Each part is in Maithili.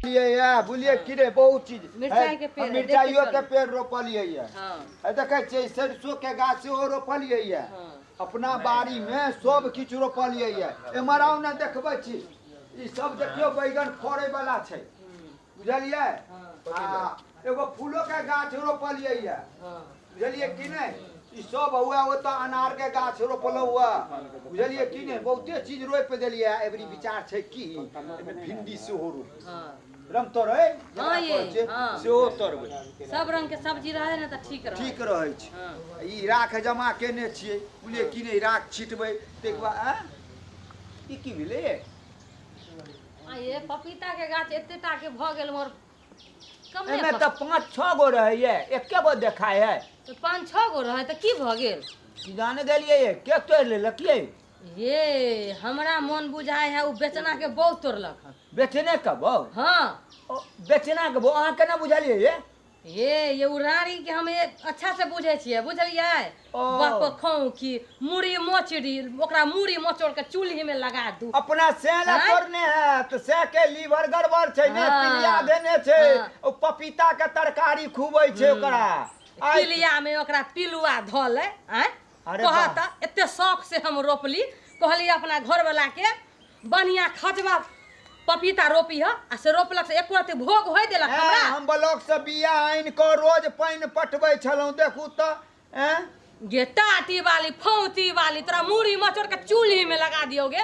लिए या बोलिए कि रे बहुत चीज मिरचाई के पेड़ है, मिर्चाइयो देखिए के पेड़ रोपलिए या हाँ है देखे छियै सरसों के गाछ सेहो रोपलिए या हाँ अपना बाड़ी में सब किछु रोपलिए या एम्हर आउ ने देखबै छी ई सब देखियौ बैगन फड़े वाला छै बुझलियै आ एगो फूलो के गाछ रोपलियै ये बुझलियै कि नहि ई सब हुआ ओतऽ अनार के गाछ रोपलहुँ हुआ बुझलियै कि नहि बहुते चीज रोपि देलियै एबरी विचार छै कि एहिमे भिंडी सेहो रोपबै हाँ रमतोरै जेकरा हाँ ये, कहै छै, हाँ। सेहो तोड़बै सब रंग के सब्जी रहे ना तो ठीक रहे ठीक रहै छै हाँ ई राख जमा केने छियै बुझलियै कि नहि राख छिटबै ताहिके बाद आँय? ई की भेलै आ ये पपीता के गाछ एते टा के भऽ गेल हमर कमे एहिमे भऽ- तऽ पाँच छओ गो रहैए एके गो देखाइ है तऽ पाँच छओ गो रहै तऽ की भऽ गेल कि जाने गेलियै ये, के तोड़ि लेलकियै ये हमरा मोन बुझाय है ओ बेचना के बहु तोड़लक हन बेचने के बौ हँ ओ, बेचना के बौ अहाँ केना बुझलियै ये हे ये उ रानी के हम ए- अच्छा से बुझे छियै बुझलियै ओ। बाप खाऊ की मुड़ी मोचड़ी ओकरा मुड़ी मोचड़ के चूल्ही में लगा दू अपना सैह ला आँय? तोड़ने है तो सैह के लीवर गड़बड़ छै ने हाँ। पीलिया देने छै हाँ। ओ पपीता के तरकारी खूबै छै ओकरा आइ- पिलिया में ओकरा पिलुआ धले आय अरे कह वाह। त एते शौक से हम रोपली कहली अपना घरवाला के बढ़िया खजवा पपीता रोपी ह आ से रोपलक से एको रति भोग होय देलक हैं, हमरा हम ब्लॉक से बिया आनि कऽ रोज पानि पटबै छलहुँ देखू तऽ हैं? गे टाटी वाली फौती वाली तोरा मूड़ी मचोड़ के चूल्ही में लगा दियो गे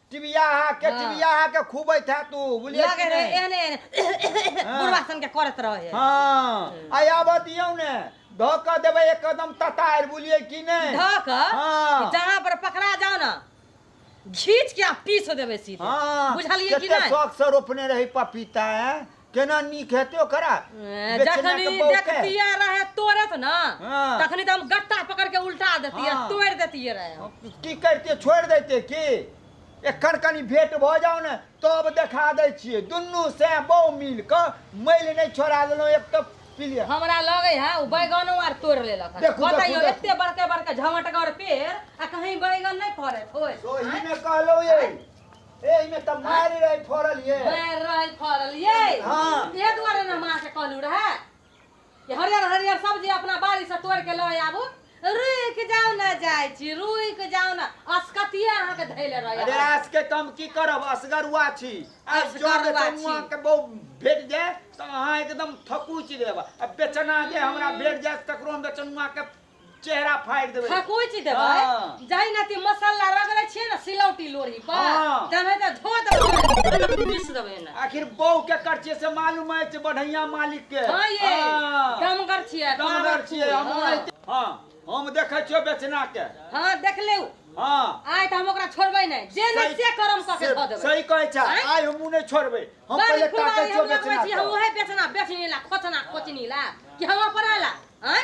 टिबिया अहाँ के हाँ। टिबिया अहाँ के खूबैत है तू बुझलियै लगे कि रहे नहि? एहने एहने हाँ। बुढ़वा सन के करत रहे है हाँ आइ आबऽ दियौ ने धऽ कऽ देबै एकदम ततार बुझलियै कि नहि धऽ कऽ हाँ। कि जहाँ पर पकड़ा जाओ ना घीच के आ पीस देबे सीधे हाँ बुझलियै कि केते नहि शौक से रोपने रही पपीता है केना नीक हेतै ओकरा ए, बेचना जखन के ई बौके। देखतियै रहे तोड़त ना हाँ। तखनी तो हम गट्टा पकड़ के उल्टा देतियै हाँ। तोड़ देतियै रहे हम। की करते छोड़ देते की एखन कनी भेंट भऽ जाओ ने तब देखा दै छियै दुनू से बहु मिल कऽ मैल नहि छोड़ा देलहुँ एक तऽ पिलिया हमरा लगे है उ बैगनो आर तोड़ लेलक हन। देखू, बताइयो देखू, देखू। एते बड़के बड़के झमटगर पेड़ आ कहीं बैगन नहीं फड़े ओए ओही ने कहलहुँ ये एहि में त मारि रहे फड़ल ये मारि रहै फड़ल ये हाँ। ए दुआरे ने माँ के कहलू रहे कि हरियर हरियर सब्जी अपना बाड़ी से तोड़ के लए आबू रुक जाओ ना जाय छी रुक जाओ ना असकतिए अहाँ के धैले अरे रहे आज के कम की करब असगरुआ छी आज जब असगरुआ छी। चमुआ के बहु भेट जाए तो अहाँ एकदम थकुच देब अब बेचना जे हमरा भेट जाए ककरो हम बेचनुआ के चेहरा फाड़ि देबै खकुच देबै हाँ। जाहि नाते मसाला रगड़े छियै ने सिलौटी लोढ़ी पर हाँ। तहन तऽ धो देबै पीस देबै ने आखिर बौ के करछे से मालूम अछि बढ़ैया मालिक के हाँ ये हाँ। दमगर छियै दमगर छियै हम हाँ। ओनाहिते- हाँ हम देखै छियो बेचना के हाँ देख लेउ हाँ आइ तऽ हम ओकरा छोड़बै नहि जे नहि से करम कऽ के से- धऽ देबै सही कहै छै आँय? आइ हमहूँ नहि छोड़बै हम बड़ पहिले फुलवारी ताकै छियो हम लगबै बेचना छी, हम के। ओहे बेचना बेचनी ला खोचना खोचनी ला कि हम अपना ला आँय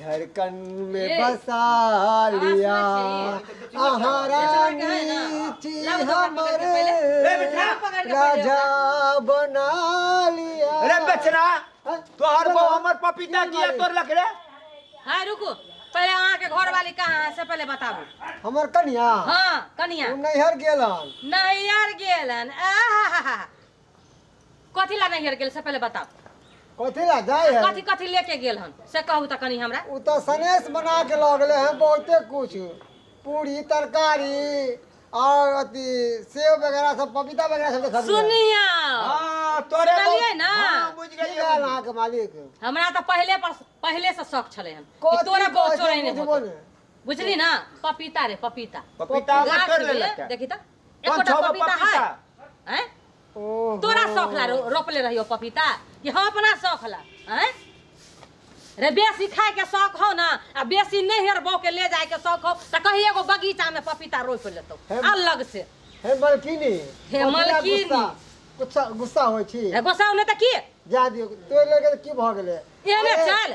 धड़कन में बसा लिया आहारानी थी हमर राजा बना लिया अरे बेचना तोहर बो हमर पपीता किया तोर लख रे हाँ रुको पहले अहाँ के घर वाली कहाँ है से पहले बताबू हमर कन्या हाँ कनिया हम नैहर गेलन नहीं यार गेलन आहा कथी ला नैहर गेल से पहिले बताओ कथी ला जाए है कथी कथी लेके गेल हन से कहू तऽ कनी हमरा उ तऽ सनेस बना के लऽ गेले हैं बहुते कुछ पूरी तरकारी और अथी सेव वगैरह सब पपीता वगैरह सब देखलिए सुनिया हाँ, तोरे सुनलियै बहुत- ना? हाँ, बुझ की गेलियै, कहल बुझ अहाँके मालिक हमरा तऽ पहिले पर पहिले से शौक छलै हन कि कथी तोरा बहुत कहै छै चोरे नहि बुझबो होतो। ने। बुझली ना पपीता रे पपीता पपीता गाछ तोड़ ले में, लगता है। देखी तऽ एकोटा छौ गो पपीता है हैं ओहो। तोरा शौक ला रो- रोपले रहियो पपीता कि हम अपना शौक ला हैं रे बेसी खाए के शौक हो ना आ बेसी नैहर बो के ले जाए के शौक हो त कहीं एगो बगीचा में पपीता रोप लेतो हे- अलग से हे मलकिनी हे पपीता मलकिनी। गुस्सा- गुस्सा गुस्सा होइ छी रे गोसाउ ने त की जा दियो तो लगे की भ गेले एने अरे, चल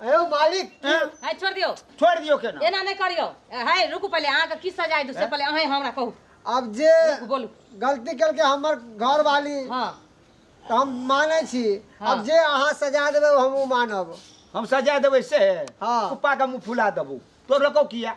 अयो मालिक हाँ। है छोड़ दियो छोड़ दियो के ना एना नहीं करियो है रुकू पहले अहाँ के की सजाय दू से पहले अहें हमरा कहू अब जे रुकू बोलू गलती कल के हमर घर वाली हाँ तो हम माने छी हाँ। अब जे अहाँ सजा देबे हम उ मानब हम सजा देबै से हाँ। कुप्पा के मुँह फुला देबू तो रखो किया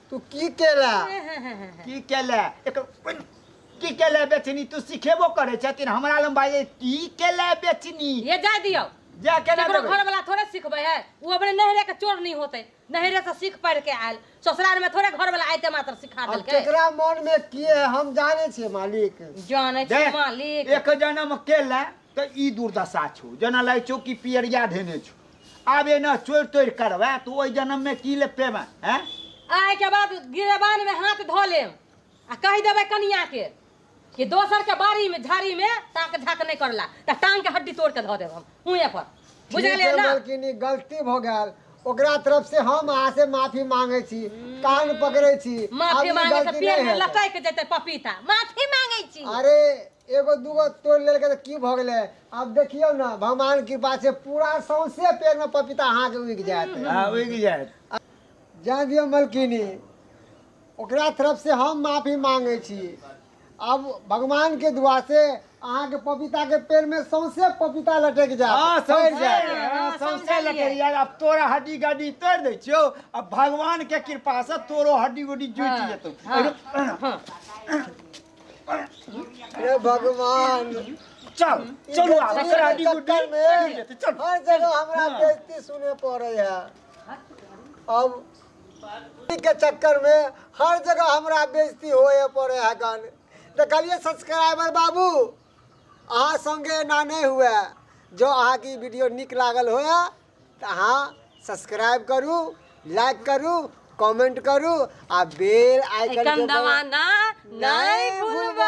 तू की केला की केला एक की केला बेचनी तू सिखेबो करे छथिन हमरा लम बाजे की केला बेचनी ये जाय दियो जा के ना केकरो देबै। घर वाला थोड़े सिखबे है वो अपने नहरे के चोर नहीं होते नहरे से सीख पढ़ के आयल ससुराल में थोड़े घर वाला आयते मात्र सिखा अब देलके केकरा मन में की है हम जाने छे मालिक जाने दे, छी मालिक एक जन्म केला तऽ ई दुर्दशा छौ जेना लागै छौ कि पियरिया धेने छौ आब एना चोरि तोरि करबै तऽ ओहि जन्ममे की ले पेबै हैं आइके बाद गिरेबानमे हाथ धऽ लेम आ कहि देबै कनियाके कि दोसरके बाड़ीमे झाड़ीमे ताक झाक नहि करला तऽ टांगके हड्डी तोड़ कऽ धऽ देब हम हुएँ पर बुझलियै ठीक है, ने मालकिन ई गलती भऽ गेल ओकरा तरफ से हम अहाँ से माफी मांगे छी कान पकड़े छी आब माफी ई मांगे से गलती पेड़ नहीं मे हेतै। लटक जेतै पपीता माफी मांगे छी अरे एगो दूगो तोड़ि लेलकै तऽ की भऽ गेलै? आब देखियौ ने, भगवानक कृपा छै, पूरा सौंसे पेड़मे पपीता अहाँके उगि जायत। हँ, उगि जायत। जाय दियौ मलकिनी, ओकरा तरफसँ हम माफी मांगै छी। आब भगवानक दुआसँ अहाँक पपीताक पेड़मे सौंसे पपीता लटकि जायत। हँ, फड़ि सौंसे जायत। लटकि जायत। हँ, सौंसे समझलियै। लटकि जायत। आब तोरा हड्डी-गड्डी तोड़ि दै छियौ आ भगवानक कृपासँ तोरो हड्डी-गुड्डी जुटि जेतौ। हँ, हँ। हे भगवान चल चलू आब एकरा डी गुड्डी चक्कर में लेते चल हर जगह हमरा हाँ। बेइज्जती सुने पड़े है अब के चक्कर में हर जगह हमरा बेइज्जती होए पड़े है गन देखलिए सब्सक्राइबर बाबू अहाँ संगे एना नहीं हुए जो अहाँ की वीडियो निक लागल होए तऽ अहाँ सब्सक्राइब करू लाइक करू कमेंट करू आ बेल आइकन एखन के दवाना नहि भूलबै